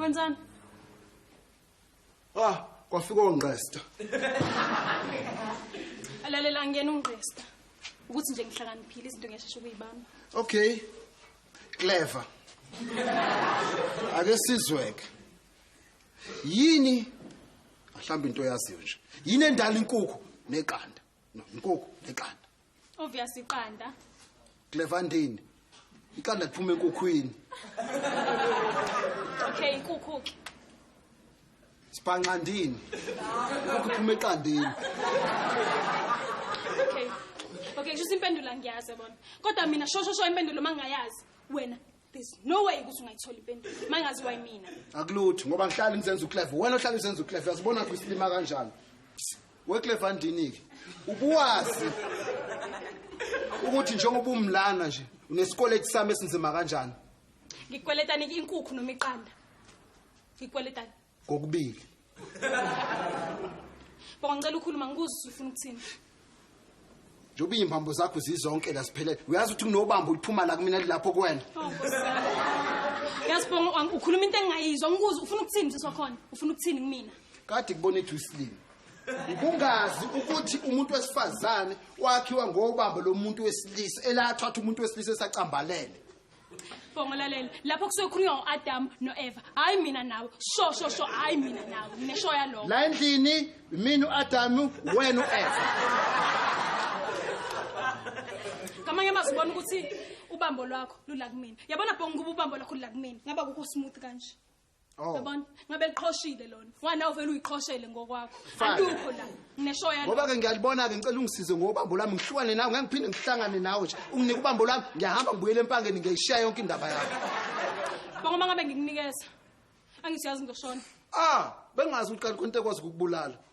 Wenzani? Ah, kwafika ongqesta. Alalela ngiyena ungqesta. Ukuthi nje ngihlakaniphile izinto ngiyashesha ukuyibamba. Okay. Clever. Ake sizweke. Yini mhlawumbe into yaziyo nje. Yini endala inkukhu neqanda? No, inkukhu neqanda. Obvious iqanda. Clevandini. Iqanda liphuma enkukhwini. Okay, inkukhu ke. Sibhanqandini. Inkukhu iphuma eqandini. Okay. Okay, kusho impendula ngiyazi bona. Kodwa mina shosho sho impendulo mangayazi. Wena there's no way ukuthi ungayithola impendulo mangazi wayimina akulutho ngoba ngihlala ngizenza uclef wena ohlala uzenza uclef uyazibona ukuthi usilima kanjani weclef andinike ubuwazi ukuthi njengoba umlana nje unesikweleti sami esinzima kanjani ngikweletani inkukhu noma iqanda ngikweletani kokubili Baba ngicela ukhuluma ngikuzwe ukuthi ufuna ukuthini. njengoba iy'mbambo zakho zizonke la ziphelele uyazi ukuthi kunobamba oluphuma la kumina lilapho kuwena Oh Nkosi yami. Yazi Bongo ang- ukhuluma into engingayizwa ngikuzwe ufuna ukuthini sisi wakhona? Ufuna ukuthini kumina? kade kubona ethu isilima ukungazi ukuthi umuntu wesifazane wakhiwa ngobambo lomuntu wesilisa elathatha umuntu wesilisa esacambalele Bongo lalela lapho kusuke khulunywa ngoAdam noEva hayi mina nawe sho sho sho hayi mina nawe nginesho yaloko la endlini mina uAdam wena uEva ngamanye amazwi ubona ukuthi ubambo lwakho lula kumina yabona bongo kuba ubambo lwakho lula kumina ngaba kukho smooth kanje Oh. Yabona, ngabe liqhoshile lona. Ngwana uvela uyiqhoshele ngokwakho. Fine. Alukho la. Nginesho yalo. ngoba ke ngiyalibona ke ngicela ungisize ngobambo lami ngihlukane nawe ngeke ngiphinde ngihlangane nawe nje unginike ubambo lami ngiyahamba ngibuyele empangeni ngiyayishiya yonke indaba yakho Bonga uma ngabe ngikunikeza. Angisiyazi ngizoshona. ah bengazi ukuthi kanti konke kwazi ukubulala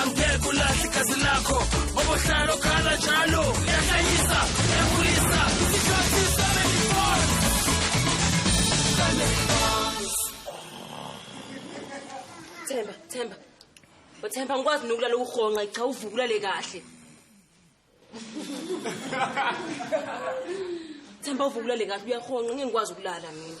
angeke ulahle igazi lakho ngoba uhlala okhala njalo uyahlanyisa uyakhulisa isikhathi family bonds family bonds themba themba uthemba ngikwazi nokulala ukuhonqa cha uvukula le kahle Themba uvuka ulale kahle uyahonqa ngeke ngikwazi ukulala mina.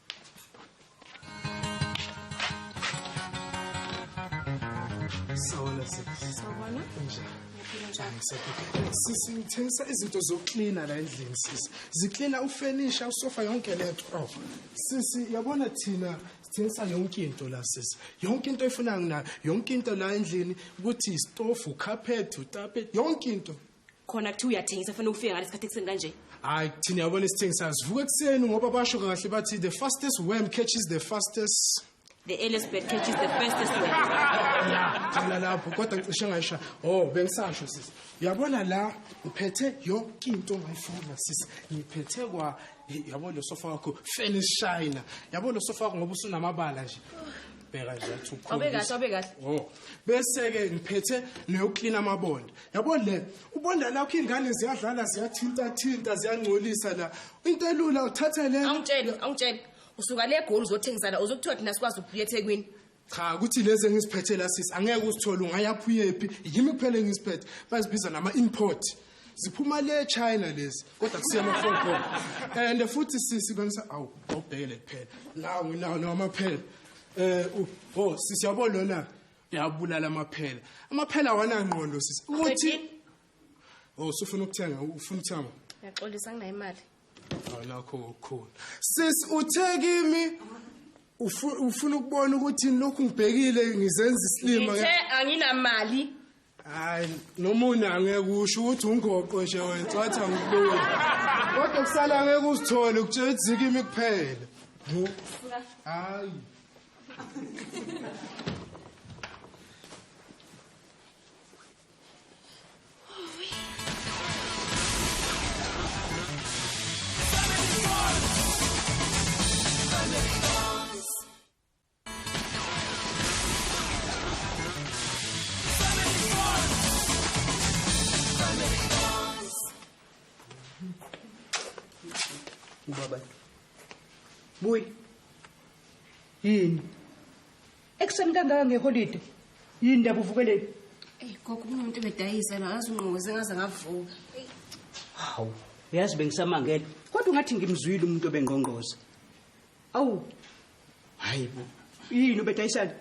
Sawona sisi. Sawona. Unjani? sisi ngithengisa izinto zokuklina la endlini sisi ziklina ufenisha usofa yonke lento oh sisi yabona thina sithengisa yonke into la sisi yonke into efuna ngina yonke into la endlini ukuthi istofu carpet utape yonke into khona kuthiwa uyathengisa fanele ufike ngalesi khathi ekuseni kanje hayi thina yabona isithengisayo sivuka ekuseni ngoba basho kahle bathi the fastest worm catches the fastest the earliest bird catches the fastest worm ya qala lapho kodwa ngicishe ngayisha oh bengisasho sisi uyabona la ngiphethe yonke into ongayifuna sisi ngiphethe kwa yabo lo sofa wakho finish shina yabo lo sofa wakho ngoba usunamabala nje bheka nje athi Wabe kahle, wabe kahle. oh bese-ke ngiphethe neyoklina amabonda yabo le ubonda lakho iy'ngane ziyadlala ziyathintathinta ziyangcolisa la into elula uthathe le Awungitshele, awungitshele. Usuka le egoli uzothengisa la, uzokuthiwa thina sikwazi ukubuya eThekwini. cha ukuthi lezi engiziphethe la sisi angeke uzithole ungayaphi uyephi yimi kuphela engiziphethe bazibiza nama-import ziphuma le china lezi kodwa kusiya ama-phone call and futhi sisi bengisa awu awubhekele kuphela nawo nginawo nawo amaphela um o sisi yabo lona uyabulala amaphela amaphela awanangqondo sisi ukuthi o usufuna ukuthenga ufuna ukuthenga ngiyaxolisa nginayo imali awunakho okukhulu sisi uthe kimi ufu- ufuna ukubona ukuthi lokhu ngibhekile ngizenza isilima ngithe anginamali hayi nomunye angeke usho ukuthi ungoqo nje wena wathi angikuloyi kodwa kusala ngeke usithole ukutshela ukuthi zikimi kuphela hayi ubaba buyi yini ekuseni kangaka ngeholide yini ndaba uvukeleni eyi gogo kunomuntu ebedayisa la yazi ungqoke sengaze ngavuka hawu uyazi bengisamangele kodwa ungathi ngimzwile umuntu obengqongqoza awu hayi bo yini ubedayisana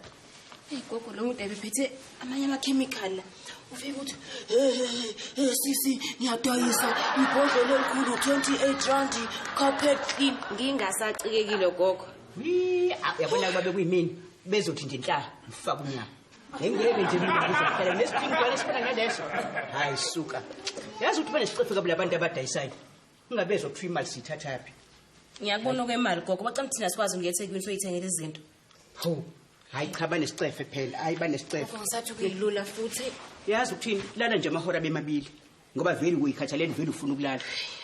eyi gogo lo mude bephethe amanye amakhemikhali la ufike ukuthi hey sisi ngiyadayisa ibhodlela elikhulu 28 rand carpet clean ngingasacikekile gogo yabona kuba bekuyimini bezothi nje nhlala ngifaka umnyaka ngengeke nje ngizohlala nesiphingi kwale sifana naleso hayi suka yazi ukuthi banesicefeka bula bantu abadayisayo ungabezwa kuthiwa imali siyithathaphi ngiyakubona okwemali gogo bacela ukuthi thina sikwazi ukuya ethekwini soyithengela izinto ho hayi cha banesicefe phela hayi banesicefe ngisathi kuyilula futhi yazi ukuthini lala nje amahora bemabili ngoba vele uyikhathalele vele ufuna ukulala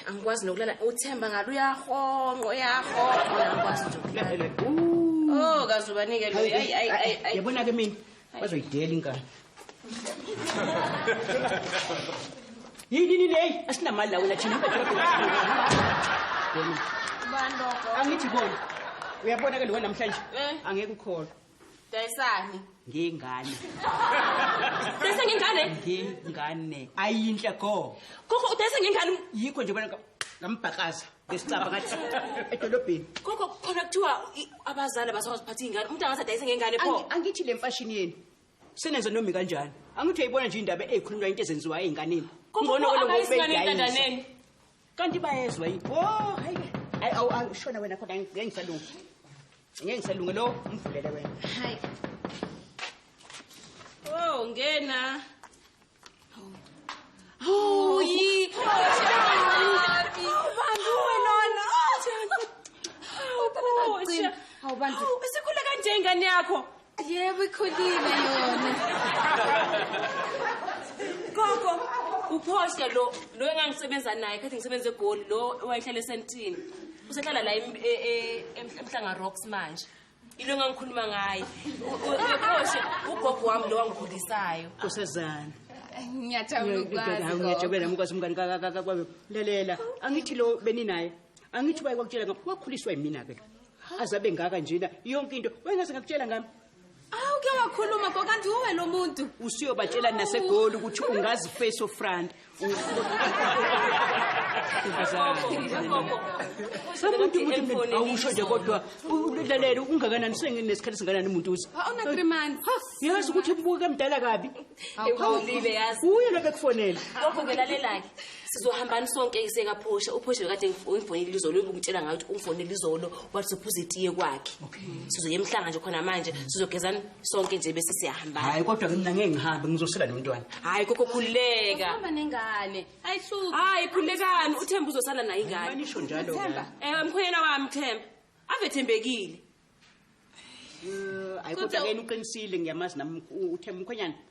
angikwazi nokulala uthemba ngalo uyahonqo uyahonqo angikwazi nje ukulala oh kazubanike lo ayi ayi ayi yabona ke mina bazoyidela inkani yini nini heyi asinamali la wena thina angithi bona uyabona ke lowo namhlanje eh. angeke ukholwa dayisani ngengane dayisa ngengane ngengane ayinhle go koko udayisa ngengane yikho nje bona ngambhakaza ngesicabha ngathi edolobheni koko khona kuthiwa abazali abasakwazi ukuphatha iy'ngane umuntu angathi adayise ngengane pho angithi le mfashini yenu senenze nomi kanjani angithi uyayibona nje indaba eyikhulunywa into ezenziwa ey'nganeni kungcono kweloayisinganentandaneni kanti bayezwa yini o oh, hayi hayi awu angishona wena khona ngeke ngisalunge ngeke ngisalunge lo umvulele wena hayi o oh, ngena Oh, yi. Awubani Awubani. Isikhule kanje ingane yakho. Yebo ikhulile yona. Gogo, uphoshe lo lo engangisebenza naye kade ngisebenza egoli lo owayehlala esentini. Usehlala la e, e, emhlanga rocks manje. ilo engangikhuluma ngayo uyokoshe ugogo wami lo wangikhulisayo kusezana ngiyajabula mukwazi umngani kakakakwayo lalela angithi lo beninaye angithi ubaye kwakutshela ngam wakhuliswa yimina-ke azabe ngaka njena yonke into wayengase ngakutshela ngami awu ke wakhuluma kokanti uwe lo muntu usiyobatshela nasegoli ukuthi ungazi face of front awusho nje kodwa ulalele ungakanani senginesikhathi singanani umuntu uze yazi ukuthi buke mdala kabi uye lobe kufonela lokho ke lalelake sizohambani sonke isekaphosha uphosha bekade ungifonele izolo ubukutshela ngayo ukuthi ungifonele izolo wathi sophuza itiye kwakhe sizoye emhlanga nje khona manje sizogezani sonke nje bese siyahamba hayi kodwa mina ngeke ngihambe ngizosela nomntwana hayi koko khululeka hamba nengane ayihluki hayi khululekani uthemba uzosala naye ingane manisho njalo themba eh mkhwena wami themba ave thembekile eh, ayi kodwa ke uqinisile ngiyamazi nami uthemba mkhwenyana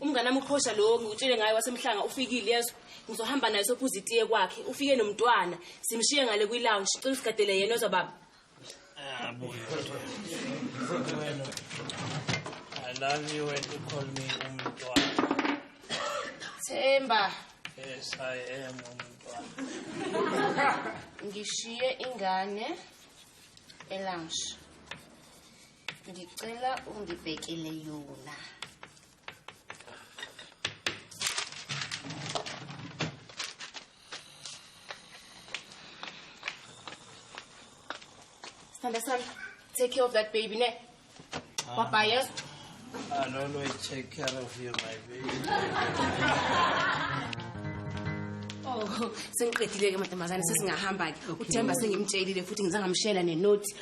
umngane wami uqhosha lowo ngikutshele ngaye wasemhlanga ufikile yezwa ngizohamba naye sophuza itiye kwakhe ufike nomntwana simshiye ngale kwi-lounge cela usigadele yena ozwa baba ah, I love you when you call me umntwana. Themba. Yes, I am umntwana. Ngishiye ingane elounge. Ngicela ungibhekele yona. Sithanda sami, take care of that baby ne. Papa, yes. I'll always take care of you, my baby. Oh, sengiqedile ke madamazane sesingahamba ke. Uthemba sengimtshelile futhi ngizangamshela nenothi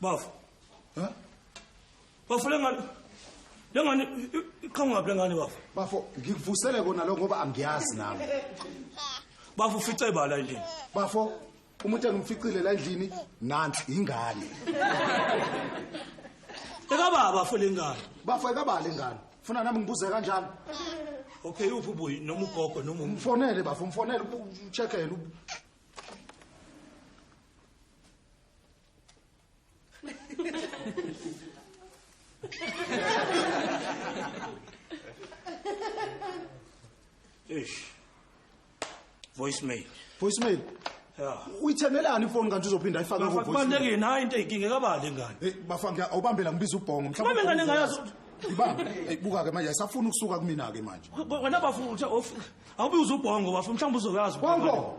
Bafo. Ha? Bafo lengane lengane iqhangaphi lengane bafo? Bafo ngikuvusele kona lo ngoba angiyazi nami. Bafo ufice bala endlini. Bafo umuntu engimficile la endlini nansi ingane. Ekababa bafo lengane. Bafo ekababa lengane. Funa nami ngibuze kanjalo. Okay uphi ubuyi noma ugogo noma umfonele bafo umfonele ucheckele Eish. Voicemail. Voicemail. Yeah. Uyithenelani ifoni kanti uzophinda ayifake ku voicemail. Kubalekile nayi into eyikinge kabali ngane. Hey bafa ngiya awubambela ngibiza ubhongo mhlawumbe. Mama ngane ngayazi. Ibamba. Hey buka ke manje asafuna ukusuka kumina ke manje. Wena bafu uthe awubiza ubhongo bafu mhlawumbe uzoyazi. Bongo.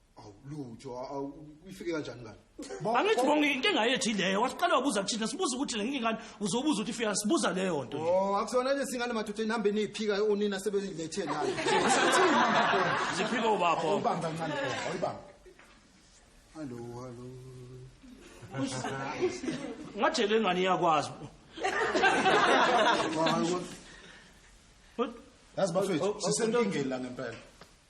awu lutho uyifike kanjani ngani angithi bonke inkinga yethu ileyo wasiqala wabuza kuthina sibuza ukuthi le nkinga uzobuza ukuthi ifika sibuza leyo nto o oh, akusona nje singane madoda nihambe niyiphika onina sebelethe nayo ziphike ubapho ubamba ncane awuyibamba hallo hallo ngajele ngani iyakwazi yazi bafethu oh, oh, sisenkingeni la ngempela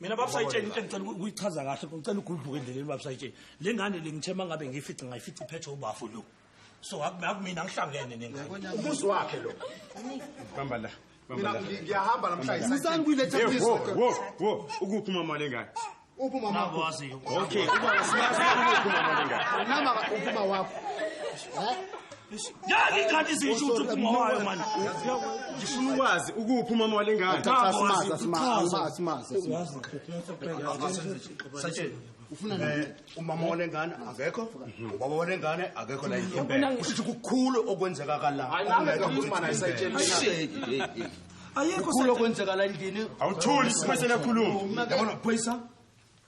mina babusayitsheni into engicela ukuyichaza kahle ngicela ugudluke endleleni babusayitsheni le ngane le ngithe uma ngabe ngiyifice ngayifice iphethwe ubafo lo so akumina ngihlangene nengane umuzi wakhe lo hamba la mina ngiyahamba namhlanje musani kuyiletha wo wo wo ukuphi umama lengane uphi umama wakho okay uba siyazi ukuphi umama lengane nama uphi umama wakho yangikhathi ziyishuthu phuma wayo mani ngifuna ukwazi ukuphi umama wale ngane eh, umama wale ngane akekho ubaba wale ngane akekho la ushithi kukhulu okwenzeka kala ayekho kukhulu okwenzeka la endlini awuthuli simesele khuluma yabona phoyisa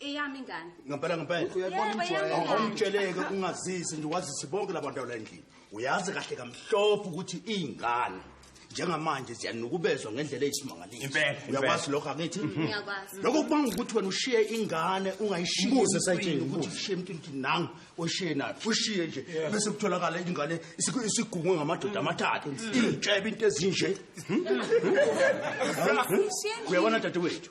eyami ingane ngempela ngempela awumtsheleke ungazisi nje wazise bonke labantu la endlini uyazi kahle kamhlophe ukuthi iy'ngane njengamanje ziyanukubezwa ngendlela eyisimangaliso uyakwazi lokho akithi lokho kubanga ukuthi wena ushiye ingane ungayishiyeushiye emntwini nangu oshiye nayo ushiye nje bese kutholakala ingane isigungwe ngamadoda amathathu ingitshebe into ezinje hmm? uyabona dadewethu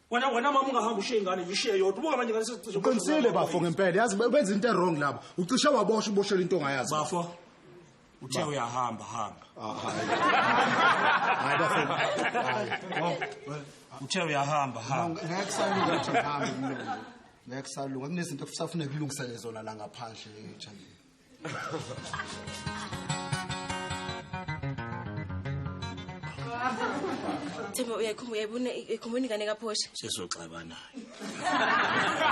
wena wena mama ungahamba ushiye ingane yishiye yodwa ubuka manje ngane sesicishe uqinisile bafo ngempela yazi benza into erong laba ucishe wabosha uboshela into ongayazi bafo uthe uyahamba hamba ah, hayi bafo hayi uthe uyahamba hamba ngeke kusalunga ukuthi ngihambe mlungu ngeke kusalunga kunezinto ekusafuneka kulungisele zona la ngaphandle ejandeni Themba uyayikhumbula uyayibona ikhumbula ingane kaphosha. Sesoxabana.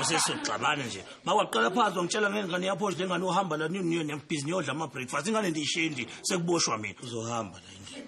Sesoxabana nje. Mawaqala phansi ongitshela ngengane yaphosha lengane uhamba la nini niyo nebhizi niyodla ama breakfast ingane ndiyishindi sekuboshwa mina. Uzohamba la indlela.